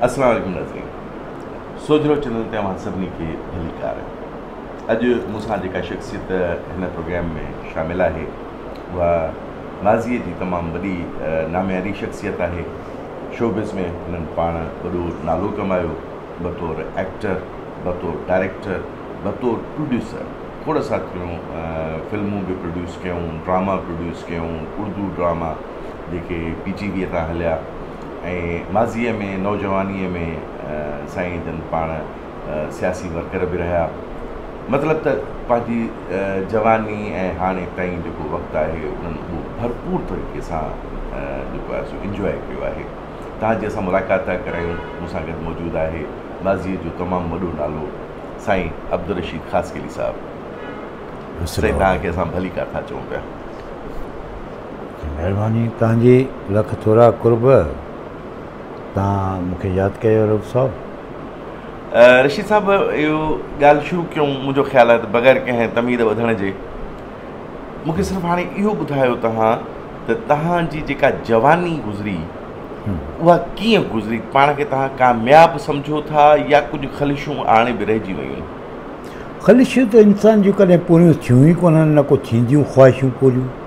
السلام عليڪم ناظرين سوجهرو چينل تي اوهان سڀني کي ڀليڪار اڄ مون سان جيڪا شخصيت هن پروگرام ۾ شامل آهي اها ماضي جي تمام وڏي نامياري شخصيت آهي شوبز ۾ هنن پاڻ وڏو نالو ڪمايو بطور ايڪٽر بطور ڊائريڪٽر بطور پروڊيوسر کوڙ ساٿيون فلمون به پروڊيوس ڪيون ڊراما پروڊيوس ڪيون اردو ڊراما جيڪي پي جي ويء تان هليا ۽ ماضيء ۾ نوجوانيء ۾ سائين جن پاڻ سياسي ورڪر به رهيا مطلب ته پنهنجي جواني ۽ هاڻي تائين جيڪو وقت آهي انهن اهو ڀرپور طريقي سان جيڪو آهي سو انجواء ڪيو آهي تان جي اسان ملاقات ٿا ڪرايون مون سان گڏ موجود آهي ماضيء جو تمام وڏو نالو سائين عبدالرشيد خاصخيلي صاحب سائين توهان کي اسان ڀليڪار ٿا چئون پيا مھرباني تنهنجي لک ٿورا قرب. تنهن مون کي ياد ڪيو رئوف صاحب. رشيد صاحب اهو ڳالهه شروع ڪيون منهنجو خيال آهي ته بغير ڪنهن تمهيد وڌڻ جي مون کي صرف هاڻي اهو ٻڌايو تنهن ته تنهن جي جيڪا جواني گذري اها ڪيئن گذري پاڻ کي تنهن ڪامياب سمجهو ٿا يا ڪجهه خلشون هاڻي به رهجي ويون خلشون ته انسان جون ڪڏهن پوريون ٿيون ئي ڪونهن نه ڪو ٿينديون خواهشون پوريون.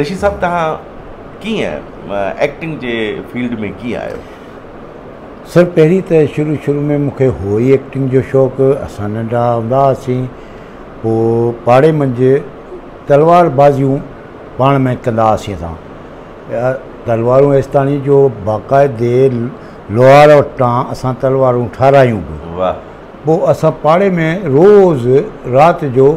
رشيد صاحب توهان ڪيئن ايڪٽنگ جي فيلڊ ۾ ڪيئن آيو؟ سر پهرين ته شروع شروع ۾ مون کي هو ئي ايڪٽنگ جو شوق اسان ننڍا هوندا هئاسين پوء پاڙي منجهه تلوار بازيون پاڻ ۾ ڪندا هئاسين اسان تلوارون ايستاڻي جو باقاعدي لوهار وٽان اسان تلوارون ٺارايون به پوء اسان پاڙي ۾ روز رات جو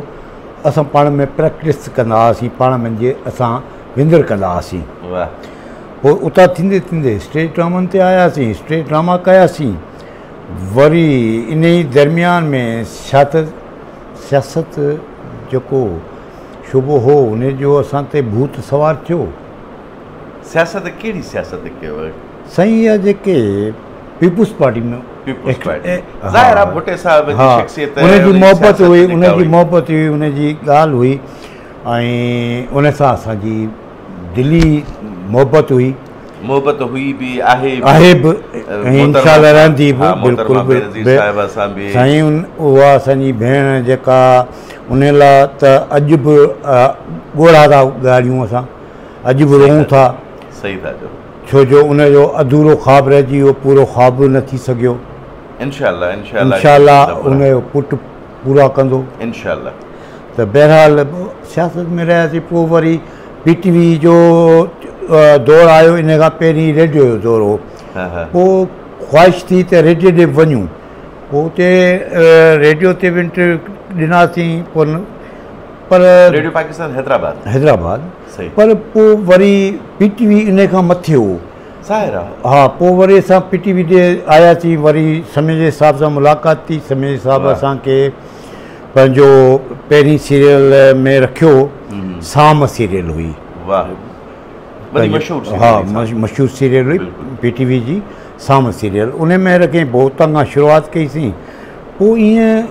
اسان پاڻ ۾ پريڪٽس ڪندا هئاسين پاڻ ۾ جي اسان وندر ڪندا هئاسين پوء اتان ٿيندي ٿيندي اسٽيج ڊرامن تي آياسين اسٽيج ڊراما ڪياسين وري ان ئي درميان ۾ سياست سياست جيڪو شعبو هو ان جو اسان تي ڀوت سوار ٿيو سياست ڪهڙي سياست ڪيو. سائين اها جيڪي پيپلز پارٽي ۾ پيپلز پارٽي ظاهر آهي ڀٽي صاحب جي شخصيت هئي ان جي محبت هئي ان جي محبت هئي ان جي ڳالهه هئي ۽ ان سان اسان جي دلي محبت هئي محبت هئي به آهي آهي به ان شاء الله رهندي به بلڪل به سائين اها اسان جي ڀيڻ جيڪا ان لاء ته اڄ به ڳوڙها ٿا ڳاڙيون اسان اڄ به روئون ٿا، ڇو جو ان جو اڌورو خواب رهجي ويو، پورو خواب به نه ٿي سگهيو. انشاء الله ان جو پٽ پورا ڪندو. ته بهرحال سياست ۾ رهياسين، پوء وري پي ٽي وي جو دور آيو، ان کان پهرين ريڊيو جو دور هو، پوء خواهش ٿي ته ريڊيو ڏي به وڃون، پوء اتي ريڊيو تي به انٽرويو ڏناسين، پوء پر ريڊيو پاڪستان حيدرآباد حيدرآباد صحيح پر پو وري پي ٽي وي انهي کان مٿي هو ظاهر آ ها پو وري اسان پي ٽي وي ڏي آيا سين وري سمي جي صاحب سان ملاقات ٿي سمي جي صاحب اسان کي پنهنجو پهرين سيريل ۾ رکيو سام سيريل هئي واهه وري مشهور سيريل ها مشهور سيريل هئي پي ٽي وي جي سام سيريل انهي ۾ رکين پو اتان کان شروعات ڪئي سين پوء ائين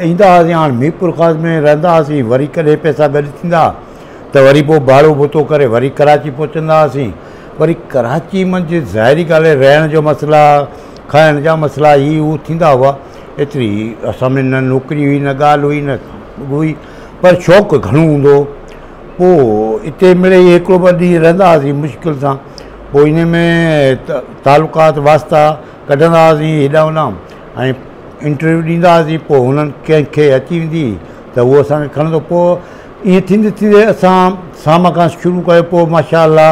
ايندا هئاسين، هاڻ ميرپور خاص ۾ رهندا هئاسين، وري ڪڏهن پئسا گڏ ٿيندا ته وري پوء ڀاڙو ڀتو ڪري وري ڪراچي پهچندا هئاسين، وري ڪراچي منجهه ظاهري ڳالهه آهي رهڻ جو مسئلا، کائڻ جا مسئلا هي هو ٿيندا هئا، ايتري اسان ۾ نه نوڪري هئي نه ڳالهه هئي نه هئي پر شوق گهڻو هوندو هو، پوء اتي مڙئي هڪڙو ٻه ڏينهن رهندا هئاسين مشڪل سان، پوء انهي ۾ تعلقات واسطا ڪڍندا هئاسين هيڏانهن هوڏانهن. ۽ انٽرويو ڏيندا هئاسين پوء هنن ڪنهن کي اچي ويندي هئي ته اهو اسان کي کڻندو پوء ائين ٿيندي ٿيندي اسان سام کان شروع ڪيو پوء ماشاء الله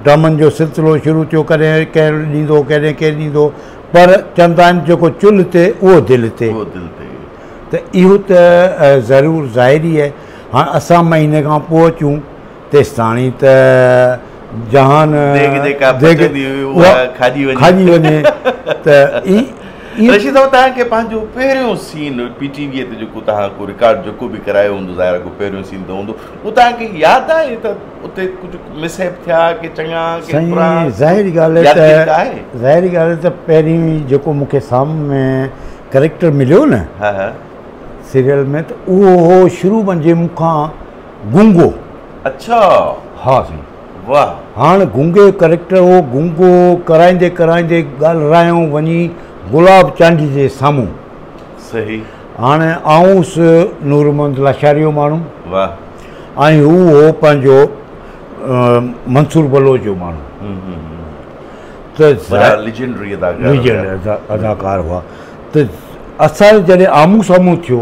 ڊرامن جو سلسلو شروع ٿيو ڪڏهن ڪير ڏيندو هو ڪڏهن ڪير ڏيندو هو پر چوندا آهن جيڪو چل هتي اهو دل هتي اهو دل هتي ته اهو ته ضرور ظاهر ئي آهي هاڻ اسان مهيني کان پوء اچون تيستاڻي ته جهان کاڄي وڃي ته رشيد صاحب توهان کي پنهنجو پهريون سين پي ٽي وي تي جيڪو توهان ڪو رڪارڊ جيڪو به ڪرايو هوندو ظاهر ڪو پهريون سين ته هوندو اهو توهان کي ياد آهي ته اتي ڪجهه مس هيپ ٿيا ڪي چڱا ڪي برا ظاهري ڳالهه ته ظاهري ڳالهه ته پهريون جيڪو مون کي سامهون ۾ ڪريڪٽر مليو نه سيريل ۾ ته اهو هو شروع ۾ جي مون کان گونگو. اڇا. ها سائين. واھ. هاڻ گونگي جو ڪريڪٽر هو گونگو ڪرائيندي ڪرائيندي ڳالھرايون وڃي گلاب چانڊيي جي سامهون. صحيح. هاڻ آئون هوس نورمحمد لاشاري جو ماڻهو. واھ. ۽ هو هو پنهنجو منصور بلوچ جو ماڻهو. ھم ھم ھم. ته وڏا ليجنڊري اداڪار. ليجنڊ اداڪار هئا ته اسان جڏهن آمهون سامهون ٿيو.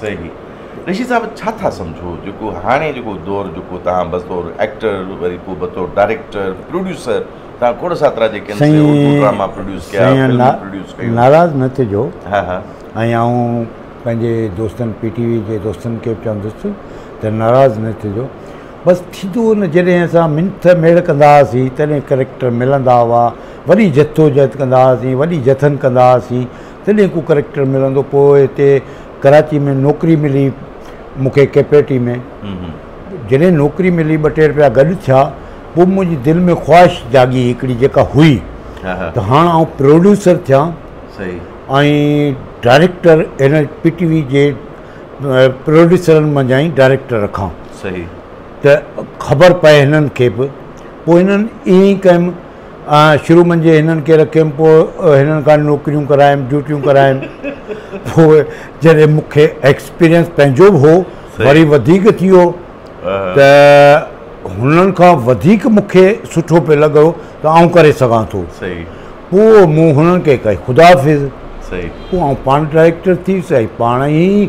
صحيح رشيد صاحب ڇا ٿا سمجهو جيڪو هاڻي جيڪو دور جيڪو توهان بطور ايڪٽر وري پوء بطور ڊائريڪٽر پروڊيوسر توهان کوڙ ساترا جيڪي سائين اردو ڊراما پروڊيوس ڪيا سائين فلمون نا- پروڊيوس ڪيون ناراض نه ٿجو ها ها ۽ آئون پنهنجي دوستن پي ٽي وي جي دوستن کي به چوندس ته ناراض نه ٿجو بس ٿيندو ان جڏهن اسان منٿ ميڙ ڪندا هئاسين تڏهن ڪريڪٽر ملندا هئا وڏي جدوجهد ڪندا هئاسين وڏي جٿن ڪندا هئاسين تڏهن ڪو ڪريڪٽر ملندو پوء هتي ڪراچي ۾ نوڪري ملي مونکي ڪيپيٽي ۾ جڏهن نوڪري ملي ٻه ٽي رپيا گڏ ٿيا پوء منهنجي دل ۾ خواهش جاڳي هڪڙي جيڪا هئي ته هاڻ آئون پروڊيوسر ٿيان ۽ ڊائريڪٽر هن پي ٽي وي جي پروڊيوسرن منجهان ئي ڊائريڪٽر رکان ته خبر پئي هنن کي به پوء هنن ائين ئي ڪيم شروع منجهه هنن کي رکيم، پوء هنن کان نوڪريون ڪرايم، ڊيوٽيون ڪرايم، پوء جڏهن مون کي ايڪسپيرينس پنهنجو به هو، وري وڌيڪ ٿي ويو ته هنن کان وڌيڪ مون کي سٺو پئي لڳو ته آئون ڪري سگهان ٿو. پوء مون هنن کي ڪئي خدا حافظ. پوء آئون پاڻ ڊائريڪٽر ٿي ويس ۽ پاڻ ئي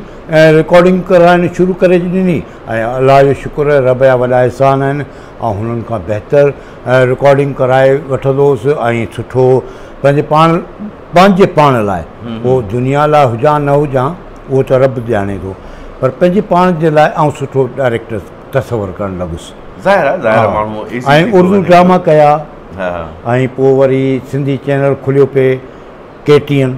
رڪارڊنگ ڪرائڻ شروع ڪري ڏني ۽ الله جو شڪر رب جا وڏا احسان آهن آئون هنن کان بهتر رڪارڊنگ ڪرائي وٺندو هوس ۽ سٺو پنهنجي پاڻ پنهنجي پاڻ لاء پوء دنيا لاء هجان نه هجان اهو ته رب ڄاڻي ٿو پر پنهنجي پاڻ جي لاء آئون سٺو ڊائريڪٽر تصور ڪرڻ لڳس ۽ اردو ڊراما ڪيا ۽ پوء وري سنڌي چينل کليو پئي ڪي ٽي اين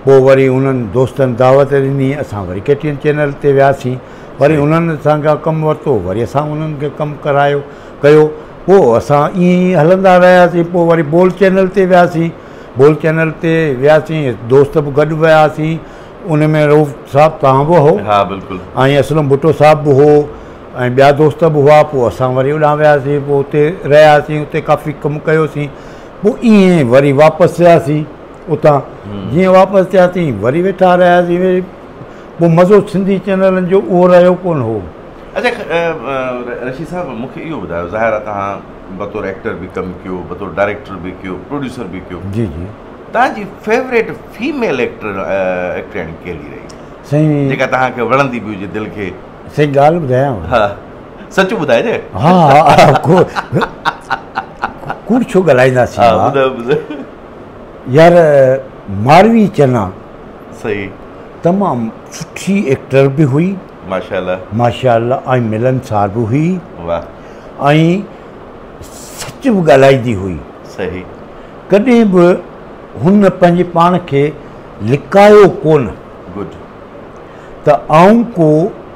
پوء وري انهن دوستن دعوت ڏني اسان وري ڪي ٽي اين چينل تي وياسين وري انهن اسان کان ڪم ورتو وري اسان انهن کي ڪم ڪرايو ڪيو پوء اسان ائين ئي هلندا رهياسين پوء وري بول چينل تي وياسين بول چينل تي وياسين دوست به گڏ وياسين ان ۾ روف صاحب تان به هو ها بلڪل ۽ اسلم ڀٽو صاحب به هو ۽ ٻيا دوست به هئا پوء اسان وري هوڏانهن وياسين پوء اتي رهياسين اتي ڪافي ڪم ڪيوسين پوء ائين وري واپس ٿياسين اتان جيئن واپس ٿياسين وري ويٺا رهياسين وري پوء مزو سنڌي چينلن جو اهو رهيو ڪونه هو. اچا رشيد صاحب مون کي اهو ٻڌايو ظاهر آهي توهان بطور ايڪٽر به ڪم ڪيو بطور ڊائريڪٽر به ڪيو پروڊيوسر به ڪيو جي جي توهان جي فيوريٽ فيميل ايڪٽر ايڪٽرياڻي ڪهڙي رهي سائين جيڪا توهان کي وڻندي به هجي دل کي سائين ڳالهه ٻڌايانو سچ ٻڌائجي ها ها ڪوڙ ڇو ڳالهائينداسين يار ماروي چنا صحيح تمام سٺي ايڪٽر به هئي ماشاءالله ماشاءالله ۽ ملن سار به هئي واه ۽ سچ به ڳالهائيندي هئي صحيح ڪڏهن به هن پنهنجي پاڻ کي لڪايو ڪونه گڊ ته آئون ڪو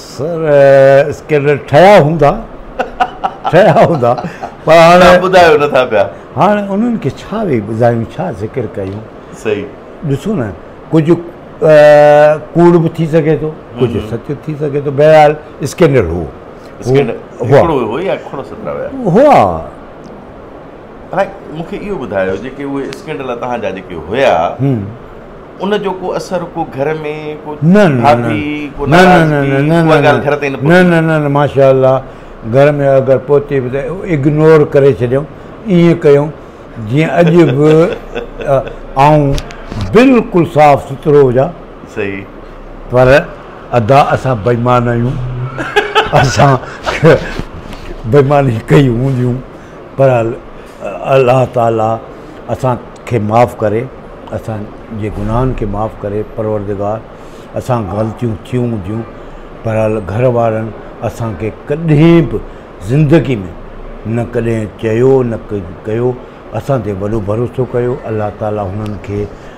سر اسڪينڊل ٺهيا هوندا ٺهيا هوندا پر هاڻي ٻڌايو نه ٿا پيا هاڻي انهن کي ڇا ويهي ٻڌايون ڇا ذڪر ڪيون صحيح ڏسو نه ڪجهه ڪوڙ به ٿي سگهي ٿو ڪجهه سچ ٿي سگهي ٿو بهرحال اسڪينڊل هو هئا مونکي اهو ٻڌايو جيڪي اهي اسڪينڊل تهان جا جيڪي هيا ان جو ڪو اثر ڪو گهر ۾ ڪو ڀاڀي ڪو ناراضگي ڪا ڳالهه گهر تائين نه پهتي نه نه نه ماشاءالله گهر ۾ اگر پهتي به ته اگنور ڪري ڇڏيائون ائين ڪيائون جيئن اڄ به آئون بلڪل صاف سٿرو هجان صحيح پر ادا اسان بيمان آهيون اسان بيماني ڪئي هونديون پر الله تعالي اسان کي معاف ڪري اسان جي گناهن کي معاف ڪري پروردگار اسان غلطيون ٿيون هونديون پر گهر وارن اسان کي ڪڏهن به زندگي ۾ نه ڪڏهن چيو نه ڪيو اسان تي وڏو ڀروسو ڪيو الله تعالي هنن کي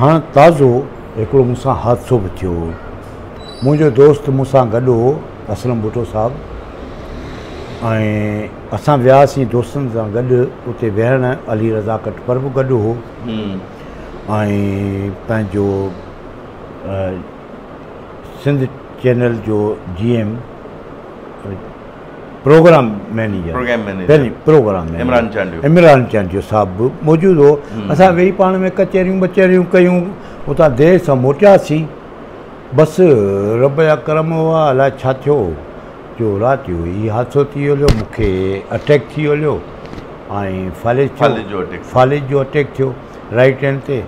هاڻ تازو هڪڙو مون سان حادثو به ٿيو هو. منهنجو دوست مون سان گڏ هو اسلم ڀٽو صاحب ۽ اسان وياسين دوستن سان گڏ اتي ويهڻ علي رضا ڪٽپر به گڏ هو ۽ پنهنجو سنڌ چينل جو G M program manager program manager program manager Imran Chandio Imran Chandio صاحب به موجود هو اسان ويهي پاڻ ۾ ڪچهريون ٻچهريون ڪيون اتان دير سان موٽياسين بس رب جا ڪرم هئا الاء ڇا ٿيو جو رات جو هي حادثو ٿي هليو مون کي اٽيڪ ٿي هليو ۽ فالج فالج جو اٽيڪ فالج جو اٽيڪ ٿيو رائٽ هينڊ تي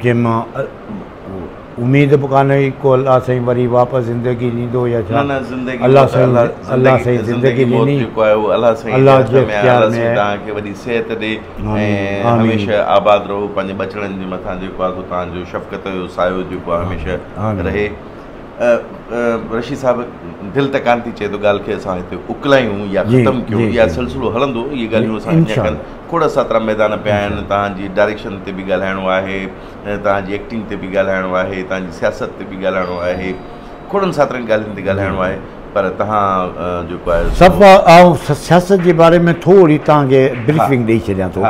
جنهن مان اميد به ڪانه هئي ڪو الله سائين وري واپس زندگي ڏيندو يا ڇا الله سائين الله سائين زندگي ڏني الله جي اختيار ۾ تان کي وڏي صحت ڏي ۽ هميشه آباد رهو پنهنجي ٻچڙن جي مٿان جيڪو آ سو تان جو شفقت جو سايو جيڪو آ هميشه رهي رشيد صاحب دل ته ڪانه ٿي چئي ته ڳالهه کي اسان هتي اڪلايون يا ختم ڪيون يا سلسلو هلندو اهي ڳالهيون اسان کي کڙ ساترا ميدان پيا آهن تان جي ڊائريڪشن تي به ڳالهائڻو آهي توهان جي ايڪٽنگ تي به ڳالهائڻو آهي، توهان جي سياست تي به ڳالهائڻو آهي، کوڙن ساترن ڳالهين تي ڳالهائڻو آهي پر توهان جيڪو آهي سو. صاحب آئون سياست جي باري ۾ ٿوري توهان کي بريفنگ ڏئي ڇڏيان ٿو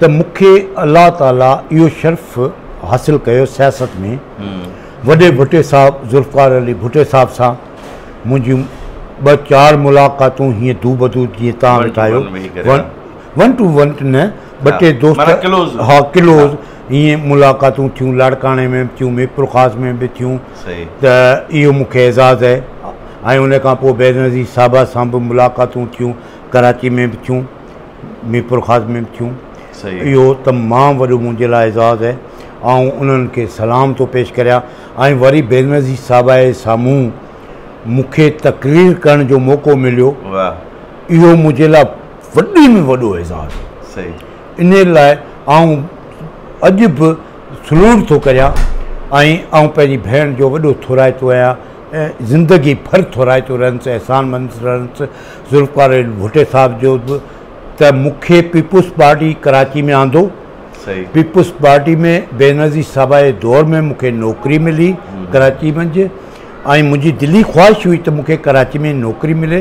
ته مون کي الله تعالي اهو شرف حاصل ڪيو سياست ۾ وڏي ڀٽي صاحب ذوالفقار علي ڀٽي صاحب سان منهنجيون ٻه چار ملاقاتون هيئن دوبدو جيئن توهان ويٺا آهيو ون ٽو ون نه ٻه ٽي دوست معنيٰ ڪلوز ها ڪلوز ائين ملاقاتون ٿيون لاڙڪاڻي ۾ به ٿيون ميرپورخاص ۾ به ٿيون صحيح ته اهو مون کي اعزاز اهي ۽ ان کان پوء بينظير صاحبه سان به ملاقاتون ٿيون ڪراچي ۾ به ٿيون ميرپورخاص ۾ به ٿيون صحيح اهو تمام وڏو منهنجي لاء اعزاز اهي آئون انهن کي سلام ٿو پيش ڪريان ۽ وري بينظير صاحبه جي سامهون مون کي تقرير ڪرڻ جو موقعو مليو واهه اهو منهنجي لاء وڏي ۾ وڏو اعزاز انهي لاء آئون اڄ به سلوٽ ٿو ڪريان ۽ آئون پنهنجي ڀيڻ جو وڏو ٿورائتو آهيان ۽ زندگي ڀر ٿورائتو رهندس احسان مند رهندس ذوالفقار علي ڀٽي صاحب جو به ته مون کي پيپلز پارٽي ڪراچي ۾ آندو پيپلز پارٽي ۾ بينظير صاحب جي دور ۾ مون کي نوڪري ملي ڪراچي منجهه ۽ منهنجي دلي خواهش هئي ته مون کي ڪراچي ۾ نوڪري ملي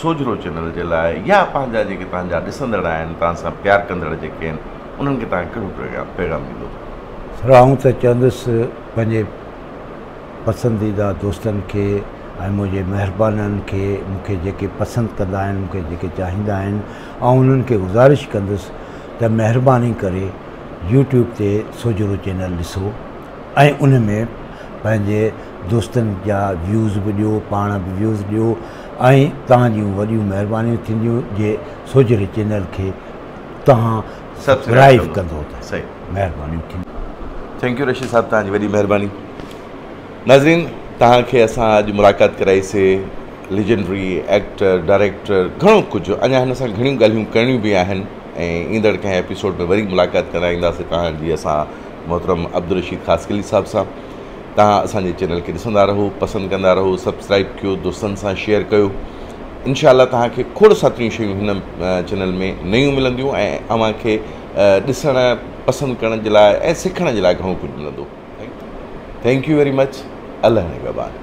سوجهرو چينل جي لاء يا پنهنجا جيڪي توهان جا ڏسندڙ آهن توهان سان پيار ڪندڙ جيڪي آهن انهن کي توهان ڪهڙو پيغام پيغام ڏيندو. سر آئون ته چوندس پنهنجي پسنديده دوستن کي ۽ منهنجي مهربانن کي مون کي جيڪي پسند ڪندا آهن مون کي جيڪي چاهيندا آهن آئون انهن کي گذارش ڪندس ته مهرباني ڪري يوٽيوب تي سوجهرو چينل ڏسو ۽ ان ۾ پنهنجي دوستن جا ويوز به ڏيو پاڻ به ويوز ڏيو ۽ توهان جون وڏيون مهربانيون ٿينديون جي سوجهري چينل کي توهان سبسڪرائيب ڪندو ته مهربانيون ٿينديون. ٿينڪ يو رشيد صاحب توهان جي وڏي مهرباني ناظرين توهان کي اسان اڄ ملاقات ڪرائي سي ليجنڊري ايڪٽر ڊائريڪٽر گهڻو ڪجهه اڃا هن سان گهڻيون ڳالهيون ڪرڻيون به آهن ۽ ايندڙ ڪنهن ايپيسوڊ ۾ وري ملاقات ڪرائينداسي توهان جي اسان محترم عبدالرشيد خاصخيلي صاحب سان توهان اسان جي چينل کي ڏسندا رهو پسند ڪندا رهو سبسڪرائب ڪيو دوستن سان شيئر ڪيو انشاء الله توهان کي کوڙ ساتريون شيون هن چينل ۾ نيون ملنديون ۽ اوهان کي ڏسڻ پسند ڪرڻ جي لاء ۽ سکڻ جي لاء گهڻو ڪجهه ملندو ٿينڪ يو ويري مچ الله نگهبان